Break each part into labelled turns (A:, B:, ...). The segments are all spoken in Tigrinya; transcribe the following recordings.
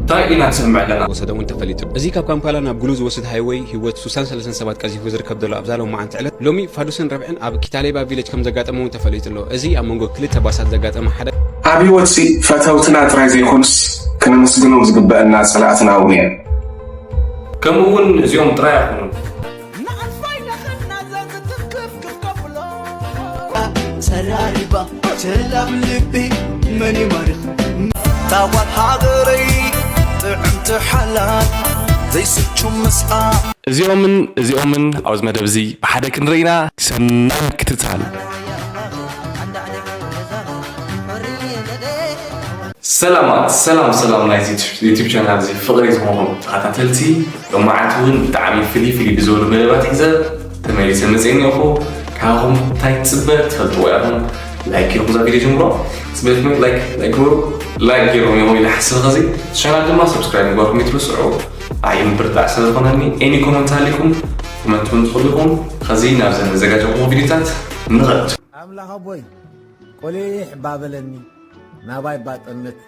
A: ታይ ኢና ንሰምዕ ኣለና? ወሰደ እውን ተፈሊጡ። እዚ
B: ካብ ካምፓላ ናብ ጉሉ ዝወስድ ሃይወይ ህይወት ሱሳን ሰለሰን ሰባት ቀዚፉ ዝርከብ ዘሎ ኣብዛ ሎማዓንቲ ዕለት ሎሚ ፋዱስን ረብዕን ኣብ ኪታሌባ ቪለጅ ከምዘጋጠመ እውን ተፈሊጡ ኣሎ። እዚ ኣብ መንጎ ክልተ ባሳት ዘጋጠመ ሓደ። ኣብ ህይወትሲ
A: ፈተውትና ጥራይ ዘይኮኑስ ክነመስግኖም ዝግበእና ፀላእትና እውን እዮም። ከምኡ እውን እዚኦም ጥራይ ኣይኮኑን።
C: እዚኦምን
D: እዚኦምን ኣብዚ መደብ እዚ ብሓደ ክንርኢና ሰናይ ምክትታል።
A: ሰላማት ሰላም ሰላም ናይ ዩቲብ ቻናል እዚ ፍቕሪ ዝኾንኩም ተኸታተልቲ ሎማዓንቲ ውን ብጣዕሚ ፍልይ ፍልይ ብዝበሉ መደባት ሒዘ ተመሊሰ መፅየ እኒኦኹ ካባኹም ታይ ትፅበ ትፈልጥዎ ኢኹም ላይክ ጌርኩም እዛ ቪድዮ ጀምሮ ፅበ ትምህርት ላይክ ላይክ ግበሩ ላይክ ጌሮም እዮም ኢለ ሓስበ ከዚ ቻናል ድማ ሰብስክራይብ ምግባርኩም ይትርስዑ ኣይ ምብርታዕ ስለ ዝኾነኒ ኤኒ ኮመንት ኣሊኩም ኮመንት ውን ትኽእሉ ኢኹም ከዚ ናብ ዘን ዘጋጀኹም ቪድዮታት ንኸድ ኣምላኽ ኣቦይ
E: ቆሊሕ ባበለኒ ናባይ ባጠምት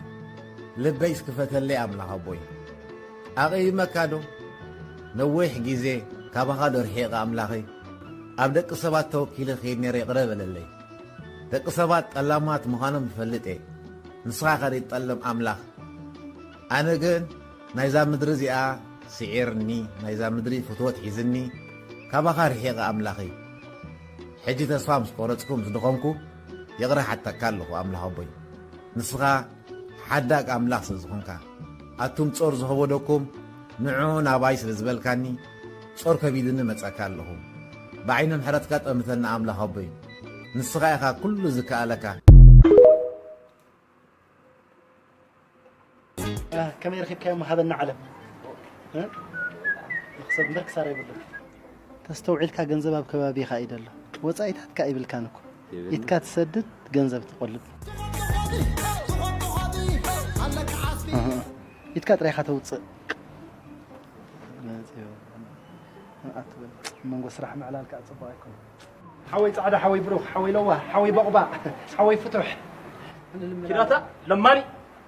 E: ልበይ ስክፈተለይ ኣምላኽ ኣቦይ ኣቐይመካ ዶ? ነዊሕ ግዜ ካባኻ ዶ ርሒቐ ኣምላኸይ ኣብ ደቂ ሰባት ተወኪለ ክይድ ነይረ ይቕረ በለለይ ደቂ ሰባት ጠላማት ምኻኖም ይፈልጥ እየ ንስኻ ከሪት ጠልም ኣምላኽ ኣነ ግን ናይዛ ምድሪ እዚኣ ስዒርኒ ናይዛ ምድሪ ፍትወት ሒዝኒ ካባኻ ርሒቐ ኣምላኸይ ሕጂ ተስፋ ምስ ቆረጽኩ ምስ ድኸምኩ ይቕረ ሓተካ ኣለኹ ኣምላኽ ኣቦይ ንስኻ ሓዳግ ኣምላኽ ስለ ዝኾንካ ኣቱም ጾር ዝኸቦደኩም ንዑ ናባይ ስለ ዝበልካኒ ጾር ከቢዱኒ መጻካ ኣለኹ ብዓይኒ ምሕረትካ ጠምተኒ ኣምላኽ ኣቦይ ንስኻ ኢኻ ኩሉ ዝከኣለካ።
F: ከመይ ረኪብካዮም ሃበና ዓለም ንክሰብ እምበር ክሳራ የብሉን። ተስተውዒልካ ገንዘብ ኣብ ከባቢኻ እዩ ደሎ ወጻኢታት ከኣ ይብልካን እኮ ኢትካ ትሰድድ ገንዘብ ትቆልብ ኣህ ኢትካ ጥራይ ኢኻ ተውጽእ መጽዮ ኣትበል መንጎ ስራሕ ምዕላል ከኣ ጽቡቅ ኣይኮነን ሓወይ ጻዕዳ ሓወይ ብሩኽ ሓወይ ለዋህ ሓወይ ቦቅባቅ ሓወይ ፍቱሕ
G: ኪዳታ ለማኒ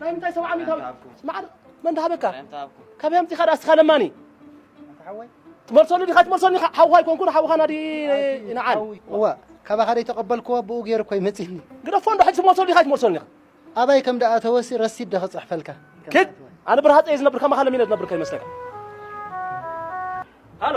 G: ናይ ምንታይ ሰብዓ ሚእታዊት መዓር መን ዳሃበካ ካበይ ኣምፂኻ ድኣ እስኻ ለማኒ
F: ትመልሰሉ ዲኻ
G: ትመልሰኒ ሓውኻ ኣይኮንኩን ሓውኻ ናዲ ይንዓል እወ
F: ካባኻ ዘይተቐበልክዎ ብኡ ገይሩ እኮ ይመፅኒ ግደፎ እንዶ ሕጂ ትመልሰሉ
G: ዲኻ ትመልሰኒ ኣበይ ከም ደኣ
F: ተወሲ ረሲድ ዶ ክፅሕፈልካ ክድ
G: ኣነ ብርሃፀ እየ ዝነብር ከማኻ ለሚነ ዝነብር ከይመስለካ ሃሎ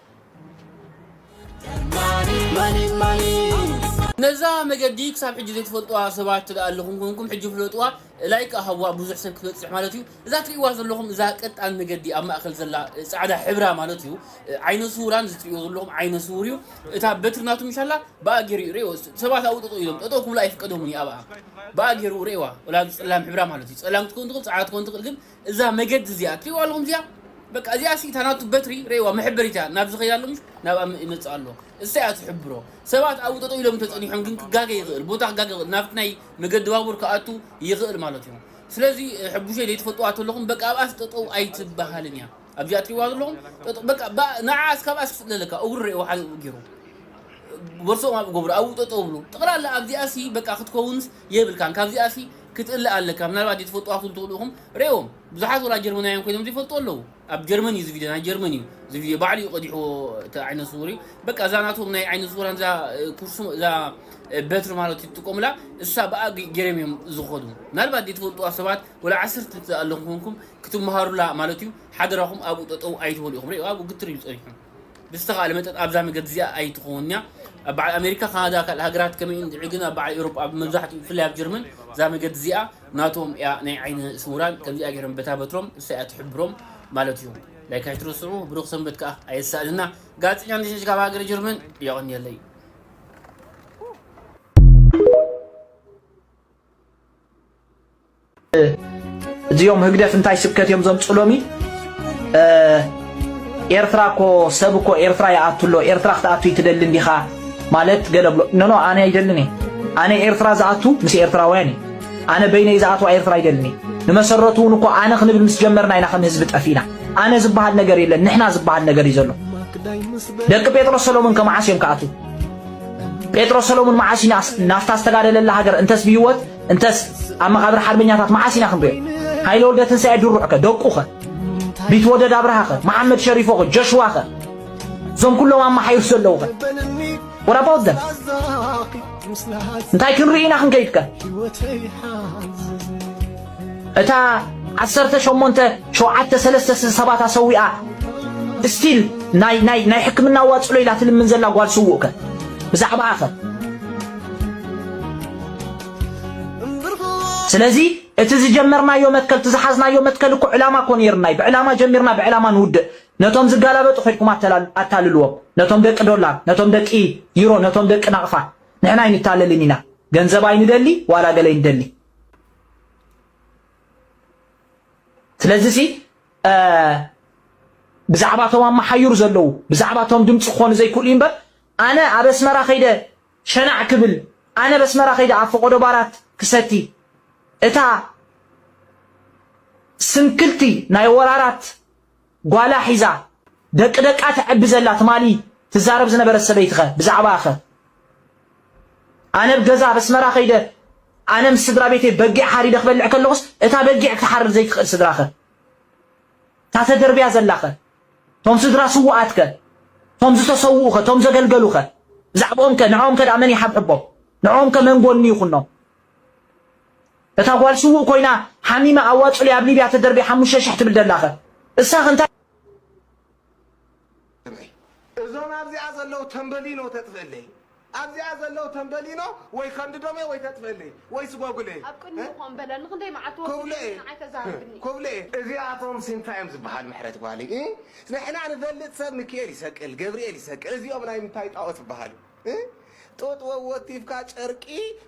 H: ነዛ መገዲ ክሳብ ሕጂ ዘይትፈልጥዋ ሰባት ትደኣ ኣለኹም ኮንኩም ሕጂ ፍለጥዋ ላይክ ከኣ ሃብዋ ብዙሕ ሰብ ክትበጽሕ ማለት እዩ እዛ ትርእይዋ ዘለኹም እዛ ቀጣን መገዲ ኣብ ማእከል ዘላ ጻዕዳ ሕብራ ማለት እዩ ዓይነ ስውራን ዝትርእይዎ ዘለኹም ዓይነ ስውር እዩ እታ በትሪ ናቱ ምሻላ ብኣ ገይሩ እዩ ርእይዎ ሰባት ኣብኡ ጠጠው ኢሎም ጠጠው ክብሉ ኣይፍቀዶምን እዩ ኣብኣ ብኣ ገይሩ ርእይዋ ወላ ጸላም ሕብራ ማለት እዩ ጸላም ክትከውን ትኽእል ጻዕዳ ክትከውን ትኽእል ግን እዛ መገዲ እዚኣ ትሪእዋ ኣለኹም እዚኣ በቃ እዚኣ ሲ እታ ናቱ በትሪ ረእዋ መሕበሪት እያ ናብ ዝኸይ ኣሎ ምሽ ናብኣ ይመጽእ ኣሎ እሳ እያ ትሕብሮ ሰባት ኣብኡ ጠጠው ኢሎም ተጸኒሖም ግን ክጋገ ይኽእል ቦታ ክጋገ ይኽእል ናብቲ ናይ መገዲ ባቡር ክኣቱ ይኽእል ማለት እዩ ስለዚ ሕቡሸይ ዘይትፈልጥዋ ተለኹም በቃ ኣብኣስ ጠጠው ኣይትበሃልን እያ ኣብዚኣ ትሪእዋ ዘለኹም ጠጠው በቃ በኣ- ንዓኣስ ካብኣ ስፍለለካ እግሩ ረእዎ ሓደ ኣብኡ ገይሩ ቦርሶኦም ኣብኡ ገብሩ ኣብኡ ጠጠው ብሉ ጠቕላላ ኣብዚኣ ሲ በቃ ክትከውንስ የብልካን ካብዚኣሲ ክትእለ ኣለካ ምናልባት ዘይትፈልጥዋ ክትኩን ትክእሉ ኢኩም ሬዎ ብዙሓት ወላ ጀርመናውያን ኮይኖም ዘይፈልጥዎ ኣለዉ ኣብ ጀርመን እዩ እዚ ቪድዮ ናይ ጀርመን እዩ እዚ ቪድዮ ባዕሉ እዩ ቀዲሕዎ እቲ ዓይነ ስውር እዩ በቃ እዛ ናቶም ናይ ዓይነ ስውራን እዛ ኩርሱ እዛ በትሪ ማለት ይጥቀሙላ እሳ ብኣ ገይሮም እዮም ዝኸዱ ምናልባት ዘይትፈልጥዋ ሰባት ወላ ዓሰርተ ኣለኹም ኮይንኩም ክትመሃሩላ ማለት እዩ ሓደራኹም ኣብኡ ጠጠው ኣይትበሉ ኢኹም ሬዎ ኣብኡ ግትር ኢሉ ጸኒሑ ብዝተኻእለ መጠን ኣብዛ መገዲ እዚኣ ኣይትኸውንን እያ። ኣብ በዓል ኣሜሪካ፣ ካናዳ፣ ካልእ ሃገራት ከመይ እንድዒ ግን ኣብ በዓል ኤውሮጳ ኣብ መብዛሕትኡ ብፍላይ ኣብ ጀርመን እዛ መገዲ እዚኣ ናቶም እያ ናይ ዓይነ ስውራን ከምዚኣ ጌሮም በታ በትሮም ንሳ እያ ትሕብሮም ማለት እዩ። ላይክ ኣይትረስዑ ብሩኽ ሰንበት ከኣ ኣየሳእነና ጋዜጠኛ እንደሸሽ ካብ ሃገረ ጀርመን የቐንየለይ።
I: እዚኦም ህግደፍ እንታይ ስብከት እዮም ዘምፁ ሎሚ ኤርትራ እኮ ሰብ እኮ ኤርትራ ይኣቱ ኣሎ ኤርትራ ክትኣቱ ይትደሊ እንዲኻ ማለት ገለ ብሎ ኖኖ ኣነ ኣይደልን እየ ኣነ ኤርትራ ዝኣቱ ምስ ኤርትራውያን እዩ ኣነ በይነይ ዝኣትዋ ኤርትራ ኣይደልን እየ ንመሰረቱ እውን እኮ ኣነ ክንብል ምስ ጀመርና ኢና ከም ህዝቢ ጠፊና ኣነ ዝበሃል ነገር የለን ንሕና ዝበሃል ነገር እዩ ዘሎ ደቂ ጴጥሮስ ሰሎሞን ከመዓስ እዮም ክኣትው ጴጥሮስ ሰሎሞን መዓስ ናፍታ ዝተጋደለላ ሃገር እንተስ ብህይወት እንተስ ኣብ መቓብር ሓርበኛታት መዓስ ኢና ክንሪኦ ሃይለ ወልደ ትንሳኤ ድሩዕከ ደቁኸ ቢትወደድ ኣብርሃኸ መሓመድ ሸሪፎኸ ጀሽዋኸ እዞም ኩሎም ኣመሓይሩ ዘለዉኸ ወራባውት ዘም እንታይ ክንርኢ ኢና ክንከይድከ እታ ዓሰርተ ሸሞንተ ሸውዓተ ሰለስተ ሰባት ኣሰዊኣ ስቲል ናይ ናይ ናይ ሕክምና ዋጽሎ ኢላ ትልምን ዘላ ጓል ስውእከ ብዛዕባኣኸ ስለዚ እቲ ዝጀመርናዮ መትከል እቲ ዝሓዝናዮ መትከል እኮ ዕላማ እኮ ነይርና እዩ። ብዕላማ ጀሚርና ብዕላማ ንውድእ። ነቶም ዝጋላበጡ ከድኩም ኣታልልዎም። ነቶም ደቂ ዶላር፣ ነቶም ደቂ ዩሮ፣ ነቶም ደቂ ናቕፋ ንሕና ኣይንታለልን ኢና። ገንዘብ ኣይንደሊ ዋላ ገለ ይንደሊ። ስለዚ ሲ ብዛዕባ እቶም ኣመሓዩር ዘለዉ ብዛዕባ እቶም ድምፂ ክኾኑ ዘይክእሉ እዩ እምበር ኣነ ኣብ ኣስመራ ከይደ ሸናዕ ክብል ኣነ ብ ኣስመራ ከይደ ኣብ ፈቆዶ ባራት ክሰቲ እታ ስንክልቲ ናይ ወራራት ጓላ ሒዛ ደቂ ደቃ ተዕቢ ዘላ ትማሊ ትዛረብ ዝነበረት ሰበይቲ ከ ብዛዕባኣ ከ ኣነ ብ ገዛ ብ ኣስመራ ከይደ ኣነ ምስ ስድራ ቤተይ በጊዕ ሓሪደ ክበልዕ ከለኩስ እታ በጊዕ ክትሓርድ ዘይትክእል ስድራ ከ እታ ተደርብያ ዘላኸ? እቶም ስድራ ስዉኣትከ? እቶም ዝተሰውኡኸ? እቶም ዘገልገሉኸ? ብዛዕብኦምከ? ንዕኦምከ ደኣ መን ይሓብሕቦም? ንዕኦምከ መን ጎኒ ይኹኖም? እታ ጓል ስዉእ ኮይና ሓሚመ ኣዋጹለይ ኣብ ሊብያ ተደርብያ ሓሙሽተ ሽሕ ትብል ደላኸ? እሳኸ እንታይ
J: እመይ እዞም ኣብዚኣ ዘለዉ ተምበሊኖ ተጥፍእለይ ኣብዚኣ ዘለዉ ተምበሊኖ ወይ ከንድዶምየ ወይ ተጥፍእለይ ወይ ስጎግለይ ኣብ ቅድሚኡ ከምኡ በለ
K: ንኽንደይ መዓልቲ ወሲዱ ኢልካ ንዓይ ተዛርብኒ።
J: ኩብለየ እዚኣቶምሲ እንታይ እዮም ዝብሃሉ ምሕረት ጓለይ እ ንሕና ንፈልጥ ሰብ ምኪኤል ይሰቅል ገብርኤል ይሰቅል እዚኦም ናይ ምንታይ ጣኦት ይብሃሉ እ ጡጥ ወወቲፍካ ጨርቂ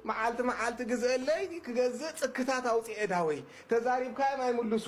J: መዓልቲ መዓልቲ ግዝእለይ ክገዝእ ጽክታት ኣውጺኤ ዳወይ ተዛሪብካዮም ኣይምሉሱ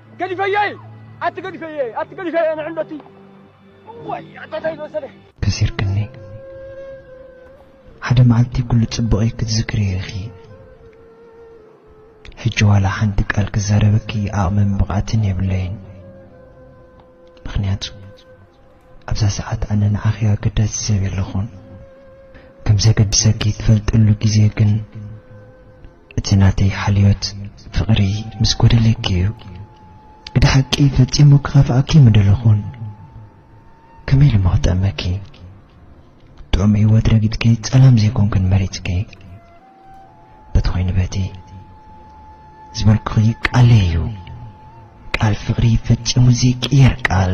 G: ገዲፈዮ እየ ኣቲ ገዲፈዮ እየ ኣቲ ገዲፈዮ እየ ንዕንዶ እቲ እዋይ ኣታታይ ዝወሰደ ከሲርክኒ
L: ሓደ መዓልቲ ኩሉ ጽቡቕይ ክትዝክርዮ ኢኺ ሕጂ ዋላ ሓንቲ ቃል ክዛረበኪ ዓቕምን ብቕዓትን የብለይን ምክንያቱ ኣብዛ ሰዓት ኣነ ንዓኺ ኣገዳሲ ሰብ የለኹን ከም ዘገድሰኪ ትፈልጠሉ ግዜ ግን እቲ ናተይ ሓልዮት ፍቕሪ ምስ ጎደለኪ እዩ ግደ ሓቂ ፈጺሙ ክኸፍኣኪ ምደለኹን ከመይ ኢሉሞ ክጥዕመኪ ጥዑም ሂወት ረጊጽኪ ጸላም ዘይኮንክን መሪጽኪ በቲ ኮይኑ በቲ ዝበልኩኺ ቃለይ እዩ ቃል ፍቕሪ ፈጺሙ ዘይቅየር ቃል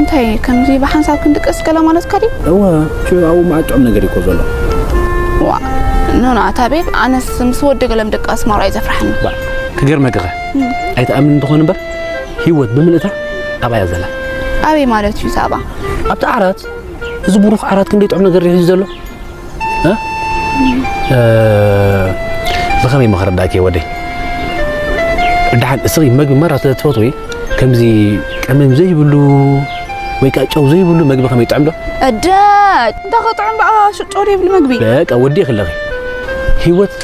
M: እንታይ እዩ ከምዚ
N: ብሓንሳብ ክንድቅስ ገለ ማለትካ ድዩ? እወ ጩ ኣብኡ
M: መዓት ጥዑም ነገር እዩ እኮ ዘሎ። ዋ
N: ኖና እታ ቤብ ኣነስ ምስ ወዲ ገለ ምድቃስ ማራ እዩ ዘፍርሓኒ። ባ ክገርመኪ ከ
M: ኣይትኣምን እንተኾን እምበር ህይወት ብምልእታ ኣብኣ እያ ዘላ። ኣበይ ማለት
N: እዩ ሳባ? ኣብቲ ዓራት
M: እዚ ብሩኽ ዓራት ክንደይ ጥዑም ነገር እዩ ሒዙ ዘሎ። ብኸመይ እሞ ከረዳእኪ ወደይ ደሓን እስኺ መግቢ መራ ስለ ትፈትዊ ከምዚ ቀመም ዘይብሉ ወይ ከዓ ጨው ዘይብሉ መግቢ ከመይ ይጥዕም ዶ እደ
N: እንተ ክጥዕም በኣ ሽጦር ይብል መግቢ በቃ ወዲእኺ ኣለኺ
M: ህይወት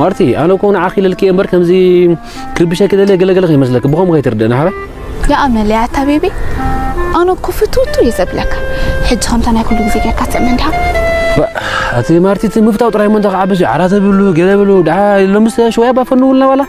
M: ማርቲ ኣነ እኮ ንዓኺ ኢለልኪ እየ እምበር ከምዚ ክርብሸኪ ደልየ ገለገለ ከይመስለኪ ብኸምኡ ከይትርድእኒ ሓበ ይኣመለይ
N: ኣታ ቤቢ ኣነ እኮ ፍትውቱ እየ ዘብለካ ሕጂ ከምታ ናይ ኩሉ ግዜ ጌርካ ትእመን እንዲኻ ኣቲ
M: ማርቲ እቲ ምፍታው ጥራይ እሞ እንታይ ክዓብስ እዩ ዓራት ብሉ ገለ ብሉ ድሓ ሎምስ ሽወያ ባፈንውልና ዋላ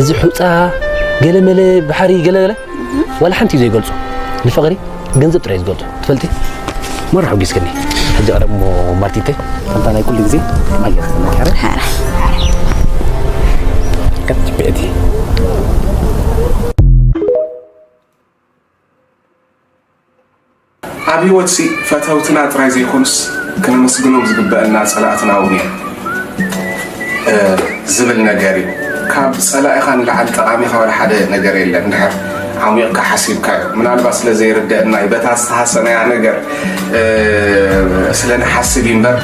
M: እዚ ሑፃ ገለመለ ባሕሪ ገለገለ ዋላ ሓንቲ እዩ ዘይገልፆ ንፍቕሪ ገንዘብ ጥራይ ዝገልፆ ትፈልጢ መራ ሕጒስክኒ ሕጂ ቀረብ እሞ ማርቲተይ ከምታ ናይ ኩሉ ግዜ ኣያ ተመካረ ከትጅብኤቲ
J: ኣብ ህይወትሲ ፈተውትና ጥራይ ዘይኮኑስ ክነመስግኖም ዝግበአና ፀላእትና እውን እዮም ዝብል ነገር እዩ ካብ ፀላኢኻ ንላዓል ጠቃሚ ከበረ ሓደ ነገር የለን ድሕር ዓሚቕካ ሓሲብካ እዩ ምናልባት ስለ ዘይርደአና እዩ በታ ዝተሃሰናያ ነገር ስለ ንሓስብ እዩ እምበር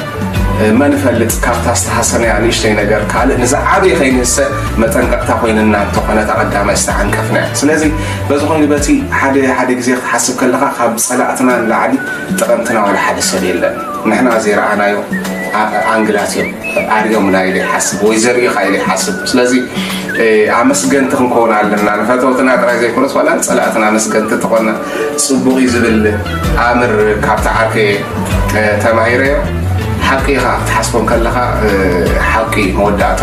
J: መን እፈልጥ ካብታ ዝተሃሰናያ ንእሽተይ ነገር ካልእ ንዝዓበየ ከይንህሰ መጠንቀቕታ ኮይንና እንተኾነ እታ ቀዳማይ ዝተዓንቀፍና እያ ስለዚ በዚ ኮይኑ በቲ ሓደ ሓደ ግዜ ክትሓስብ ከለኻ ካብ ፀላእትና ንላዕሊ ጠቐምትና ዋላ ሓደ ሰብ የለን ንሕና ዘይረኣናዮ ኣንግላት እዮም ኣርኦምና ኢለ ይሓስብ ወይ ዘርእኻ ኢለ ይሓስብ ስለዚ ኣመስገንቲ ክንከውን ኣለና ንፈተውትና ጥራይ ዘይኮነስ ዋላ ንፀላእትና ኣመስገንቲ ተኾና ፅቡቕ እዩ ዝብል ኣምር ካብቲ ዓርከየ ተማሂረዮ ሓቂ ኢኻ ክትሓስቦ ከለኻ ሓቂ መወዳእታ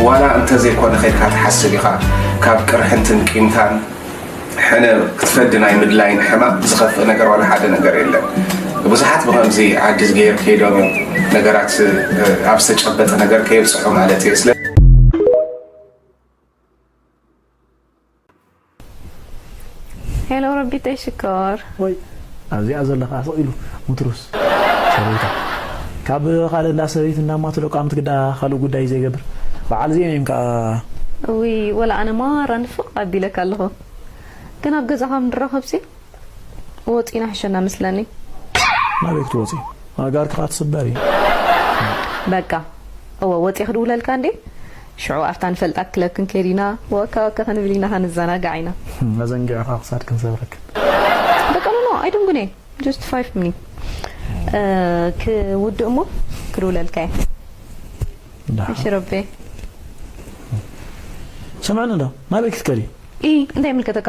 J: ዋላ እንተዘይኮነ ከይድካ ትሓስብ ኢኻ ካብ ቅርሕንትን ቂምታን ሕነ ክትፈዲ ናይ ምድላይን ሕማቅ ዝኸፍእ ነገር ዋላ ሓደ ነገር የለን ብዙሓት ብከምዚ ዓዲስ ገይር ከይዶም እዮም ነገራት ኣብ ዝተጨበጠ ነገር ከየብፅሑ ማለት እየ
O: ሄሎ ረቢተይ ሽኮር ወይ
P: ኣብዚኣ ዘለካ ስቕ ኢሉ ሙትሩስ ሰበይታ ካብ ካልእ እንዳ ሰበይቲ እንዳማትሎ ቃምት ግዳ ካልእ ጉዳይ እዩ ዘይገብር በዓል እዚኦም እዮም ከዓ እውይ ወላ
O: ኣነ ማራ ንፍቅ ኣቢለካ ኣለኩ ግን ኣብ ገዛካ ምንራከብሲ። ወጺና ሕሸና መስለኒ። ናበይ
P: ክትወጺ ኣእጋርኪ ከኣ ትስበር እዩ።
O: በቃ እወ ወጺ ክድውለልካ እንዴ ሽዑ ኣብታ ንፈልጣ ክለብ ክንከይድ ኢና ወከ ወከ ክንብል ኢና ክንዘናጋዕ ኢና። ኣዘንጊዕኻ
P: ክሳድ ክንሰብረክን። በቃ
O: ኖኖ ኣይድንጉኔ ጀስት ፋይፍ ሚኒ ክውድእ እሞ ክድውለልካ እየ። ደሓን እሺ ረቤ።
P: ስምዕኒ እንዶ ናበይ ክትከዲ። ኢሂ እንታይ ይምልከተካ።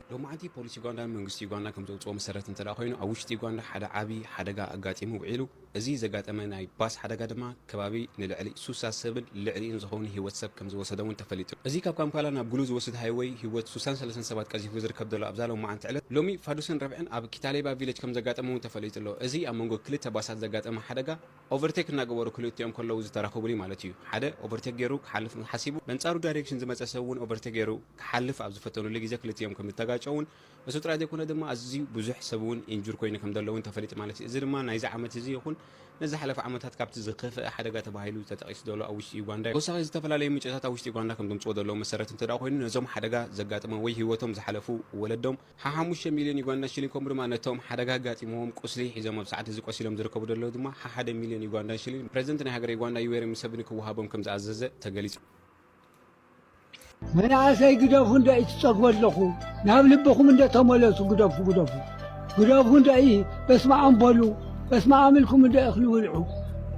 B: ሎማዕንቲ ፖሊስ ዩጋንዳ ንመንግስቲ ዩጋንዳ ከምዘውጽኦ መሰረት እንተድኣ ኮይኑ ኣብ ውሽጢ ዩጋንዳ ሓደ ዓቢ ሓደጋ ኣጋጢሙ ውዒሉ። እዚ ዘጋጠመ ናይ ባስ ሓደጋ ድማ ከባቢ ንልዕሊ ሱሳ ሰብን ልዕሊኡን ዝኸውን ህይወት ሰብ ከምዝወሰደ'ውን ተፈሊጡ። እዚ ካብ ካምፓላ ናብ ጉሉ ዝወስድ ሃይወይ ህይወት ሱሳን ሰለሰን ሰባት ቀዚፉ ዝርከብ ዘሎ ኣብዛ ሎማዕንቲ ዕለት ሎሚ ፋዱስን ረብዕን ኣብ ኪታሌባ ቪለጅ ከምዘጋጠመ'ውን ተፈሊጡ'ሎ። እዚ ኣብ መንጎ ክልተ ባሳት ዘጋጠመ ሓደጋ፣ ኦቨርቴክ እናገበሩ ክልቲኦም ከለዉ ዝተረኽቡኒ ማለት እዩ። ሓደ ኦቨርቴክ ገይሩ ክሓልፍ ሓሲቡ በንጻሩ ዳይሬክሽን ዝመጸ ሰብ እውን ኦቨርቴክ ገይሩ ክሓልፍ ኣብ ዝፈተኑሉ ግዜ ክልቲኦም ከም ዝተጋጨዉን እሱ ጥራይ ዘይኮነ ድማ ኣዝዩ ብዙሕ ሰብ እውን ኢንጁር ኮይኑ ከም ዘሎ እውን ተፈሊጡ ማለት እዩ። እዚ ድማ ናይዚ ዓመት እዚ ይኹን ነዚ ዝሓለፈ ዓመታት ካብቲ ዝኸፍኣ ሓደጋ ተባሂሉ ተጠቒሱ ዘሎ ኣብ ውሽጢ ዩጋንዳ እዩ። ተወሳኺ ዝተፈላለዩ ምንጭታት ኣብ ውሽጢ ዩጋንዳ ከም ዘምጽዎ ዘለዉ መሰረት እንተድኣ ኮይኑ ነዞም ሓደጋ ዘጋጠሞም ወይ ህይወቶም ዝሓለፉ ወለዶም፣ ሓሓሙሽተ ሚልዮን ዩጋንዳ ሽሊንግ ከምኡ ድማ ነቶም ሓደጋ ኣጋጢምዎም ቁስሊ ሒዞም ኣብ ሰዓት እዚ ቆሲሎም ዝርከቡ ደለዉ ድማ ሓሓደ ሚልዮን ዩጋንዳን ሽሊንግ ፕረዚደንት ናይ ሃገረ ዩጋንዳ ዩዌሪ ሙሰብኒ ክወሃቦም ከም ዝኣዘዘ ተገሊጹ።
Q: መናእሰይ ግደፉ እንደ ትጸግቡ ኣለኹ ናብ ልብኹም እንደ ተመለሱ ግደፉ ግደፉ ግደፉ እንደ በስመኣም በሉ በስመኣም ኢልኩም እንደ እኽሊ ብልዑ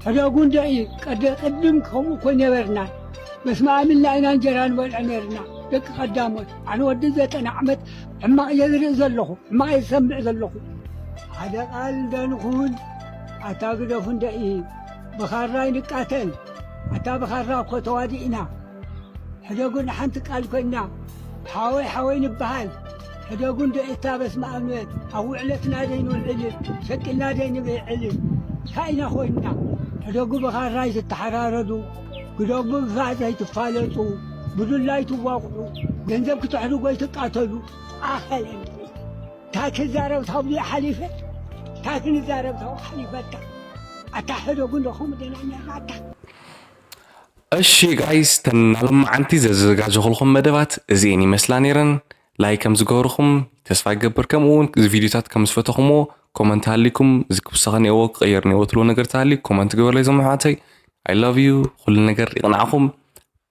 Q: ሕደጉ እንደ ቀደ ቅድም ከምኡ እኮ ነበርና በስመኣም ኢልና ኢና እንጀራ ንበልዕ ነርና ደቂ ቀዳሞት ኣነ ወዲ ዘጠና ዓመት ሕማቕ እየ ዝርኢ ዘለኹ፣ ሕማቕ እየ ዝሰምዕ ዘለኹ። ሓደ ቃል እንደ ንኹን ኣታ ግደፉ እንደ ብኻራ ኣይንቃተል ኣታ ብኻራ እኮ ተዋዲእና ሕደጉን ሓንቲ ቃል ኮይና ሓወይ ሓወይ ንበሃል ሕደጉን ዶ እታ በስመ ኣብ ውዕለትና ደይንውዕል ሸቂልና ደይንብዕል ካኢና ኮይንና ሕደጉ ብኻራ ኣይትተሓራረዱ ግደፉ ብምፍራሕ ዘይትፋለጡ፣ ብዱላይ ትዋቕዑ፣ ገንዘብ ክትሕዱ ጎይትቃተሉ፣ ኣኸለ እንድዒ። ታይ ክዛረብ ታብሉይ ሓሊፈ ታይ ክንዛረብ ታው ሓሊፈካ ኣታ ሕደጉ እንዶ ከምኡ ደና ኔርና ኣታ
D: እሺ ጋይስ ተን ናሎማዓንቲ ዘዘጋጀኹልኹም መደባት እዚኤን ይመስላ ነይረን ላይክ ከም ዝገብርኹም ተስፋ ይገብር ከምኡ እውን እዚ ቪድዮታት ከም ዝፈተኹምዎ ኮመንት ሃሊኩም እዚ ክውሰኸ ኔዎ ክቕየር ኔዎ ትብሎ ነገር ተሃልዩ ኮመንት ግበርለይ ዘመሓዋተይ ኣይ ላቭ ዩ ኩሉ ነገር ይቕናዕኹም